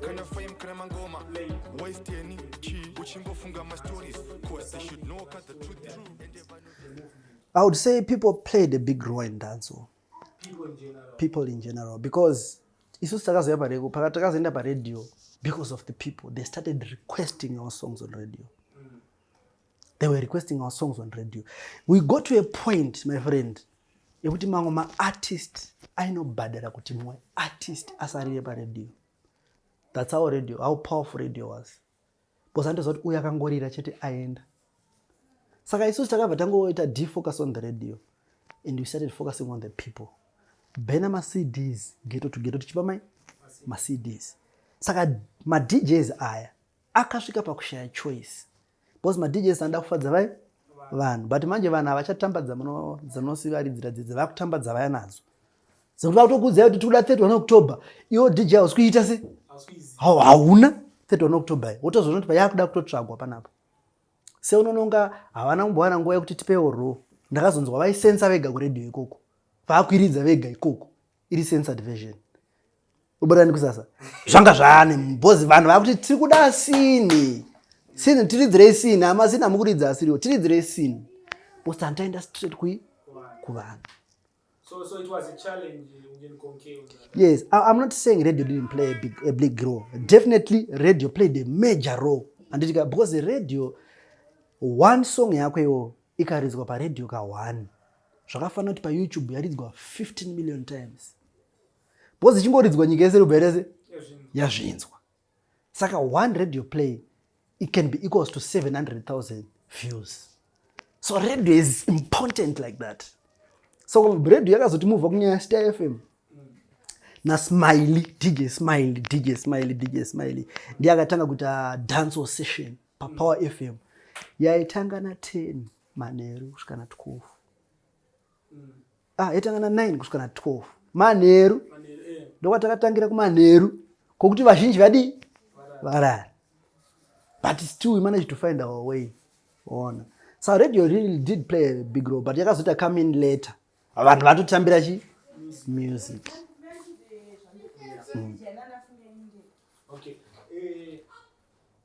kana fame kana mangoma wasteni chi uchingofunga mastories cause they should know cut the truth is i would say people played a big role in dancehall people in general because isusu takazouya pareko pakati takazoenda paradio because of the people they started requesting our songs on radio they were requesting our songs on radio we go to a point my friend yekuti mamwe maartist ainobhadhara kuti mumwe artist asarire paradio thats our radio how powerful radio was bcause andiziva kuti uyo akangorira chete aenda saka isusu takabva tangoita defocus on the radio and we started focusing on the people bena macds geto to geto tichipa mai macds saka madjs aya akasvika pakushaya choice because madjs anoda kufadza vai vanhu but manje vanhu havachatambadza muno dzinosivaridzira dzidzi vakutambadza vaya nadzo dzekuti vakutokuudzai kuti tikuda 31 october iwo dj hausi kuita se hauna 31 october wotozoona kuti vayakuda kutotsvagwa panapa seunononga havana kumbowana nguva yekuti tipewo ro ndakazonzwa vaisensa vega kuredio ikoko vakwiridza vega ikoko iri censored version ubodani kusasa zvanga zvaane bhozi vanhu vakuti tiri kuda sini sini tiridzirei sini ama sini amukuridza asiriwo tiridzirei sini bosi antaenda straight kui kuvanhu So, so it was a challenge in Conke. Yes, I, I'm not saying radio didn't play a big, a big role. Definitely, radio played a major role. And it, because the radio, one song yako ikaridzwa pa radio ka one zvakafanira kuti payoutube yaridzwa 15 million times bcause ichingoridzwa nyika yese rubva rese yazvinzwa saka one radio play it can be equals to 700000 views so radio is important like that so radio yakazoti muvha kunyaya star fm nasmiley dj smiley dj smiley dj smiley ndiye akatanga kuita ah, dance session papower fm yaitanga na 10 manheru kusvika na 12 mm. ah, yatanga na 9 kusvika na 12 manheru eh. ndokwatakatangira kumanheru kokuti vazhinji vadii varara but still we managed to find our way ona so radio really did play a big role but yakazoita come in later vanhu vatotambira chi music mm. okay. Eh,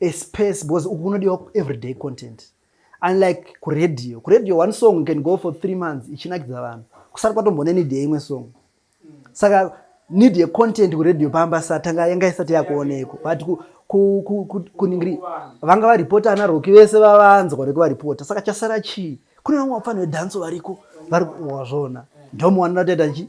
a space because uku kunodiwa everyday content unlike kuradio kuradio one song can go for three months ichinakidza vanhu kusati kwatombone need yeimwe song saka need yecontent kuradio pamba satanga yanga isati yakuonekwa but ku, ku, ku, ku, kuningiri vanga varipota ana roki vese vavanzwa rekuva ripota saka chasara chii kune vamwe vapfani vedhanso variko vari wazvona ndomuwanira toita chi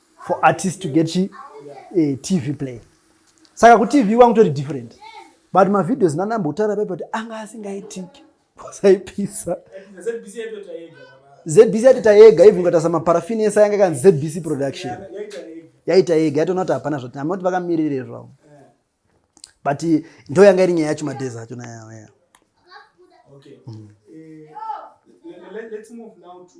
for artist to get chi eh, tv play saka kutv kwangu tori different but mavideos nanambotaura paipa kuti anga asingaitiki kwasaipisa zbc yatita yega even ukatasa maparafin ese ayanga kanzi zbc production yaita yega yatoona kuti hapana zvati amati vakamiririre zvavo but ndo yanga iri nyaya yacho madhezi acho nayaya okay. mm. uh, let, let's move now to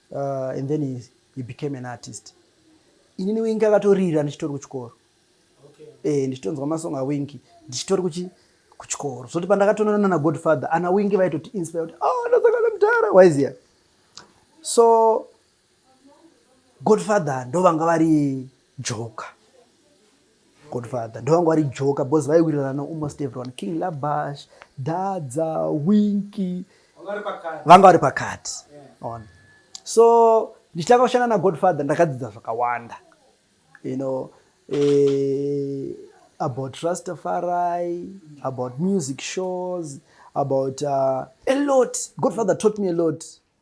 uh, and then he, he became an artist inini wingi akatorira ndichitori kuchikoro okay. e, ndichitonzwa masong awingi ndichitori kuchi kuchikoro zvoti pandakatononana nagodfather ana wingi vaitoti inspire kuti oh, ndasangana mudhara waiziya so godfather ndovanga vari joka Godfather ndovanga vari joka because vaiwirirana almost everyone King Labash, Dadza, Winky vanga vari pakati on so ndichitanga kushanda naGodfather ndakadzidza zvakawanda you know eh, about Rastafari, about music shows, about uh, a lot. Godfather taught me a lot.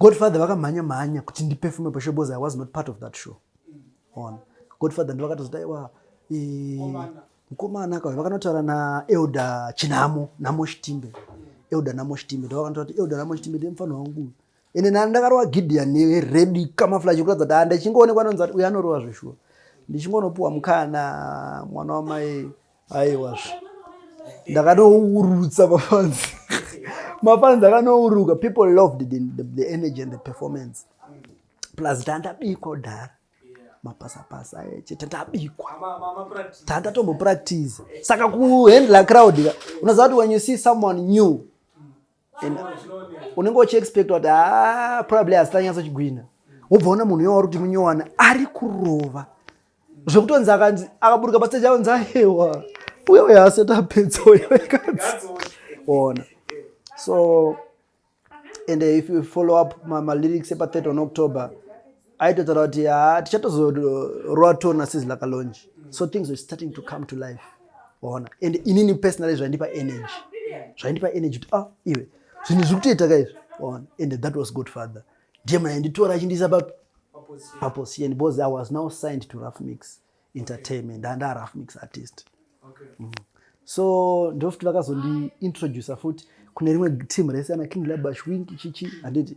Godfather vakamhanya mhanya kuti ndiperfume pashow because I was not part of that show. On. Godfather ndivakatozoti aiwa mukomana akauya vakanotaura naelder chinhamo namo chitimbe elder namo chitimbe ndovakanotaura kuti elder namo chitimbe ndiye mufanha wangu uyu ende nani ndakarova gideon neredi kamaflash kuratidza kuti handichingoonekwa anonzi uyo anorova zveshuwa ndichingonopiwa mukana mwana wamai aiwazvo ndakanourutsa mafanzi mafanzi akanouruka people loved the, the, the energy and the performance plus tandabikwa kudhara mapasapasa eche tandabikwa tandatombopractice saka kuhandla crowd unoziva kuti when you see someone new and unenge uchiexpecta kuti haa ah, probably hazitanyatso chigwina wobva ona munhu yowauri kuti munyowana ari kurova zvekutonzi akanzi akaburuka pasteji aonzi ahewa uyo uyo asati apedza uyo kanzi ona so and if you follow up malyrics epa 3 on october aitotaura kuti haa tichatozorowa tour nasizi lakalonji so things were starting to come to life waona and inini personally zvaindipa energy zvaindipa energy kuti ah iwe zvinhu zviri kutoita ka izvi waona and that was good father ndiye mna yanditora achindiisa pa paposition because i was now signed to rough mix entertainment ndandaa rough mix artist okay. mm -hmm so ndofuti vakazondiintroducer futi kune rimwe team rese ana king labash wink chichi handiti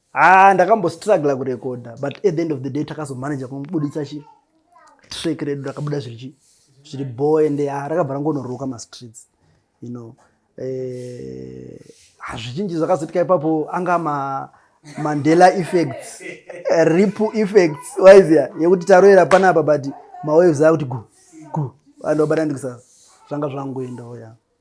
Haa ndakambostruggla kurekodha but at the end of the day takazomanage kumubuditsa chi track redu rakabuda zvirichi zviri boy and haa rakabva rangonoroka mastreets you know eh, hazvichinji zvakazoitika ipapo anga ma mandela effects ripple effects waizia yekuti taroera panapa but mawaves akuti gu gu vanhu vabata ndikusasa zvanga zvangoenda oya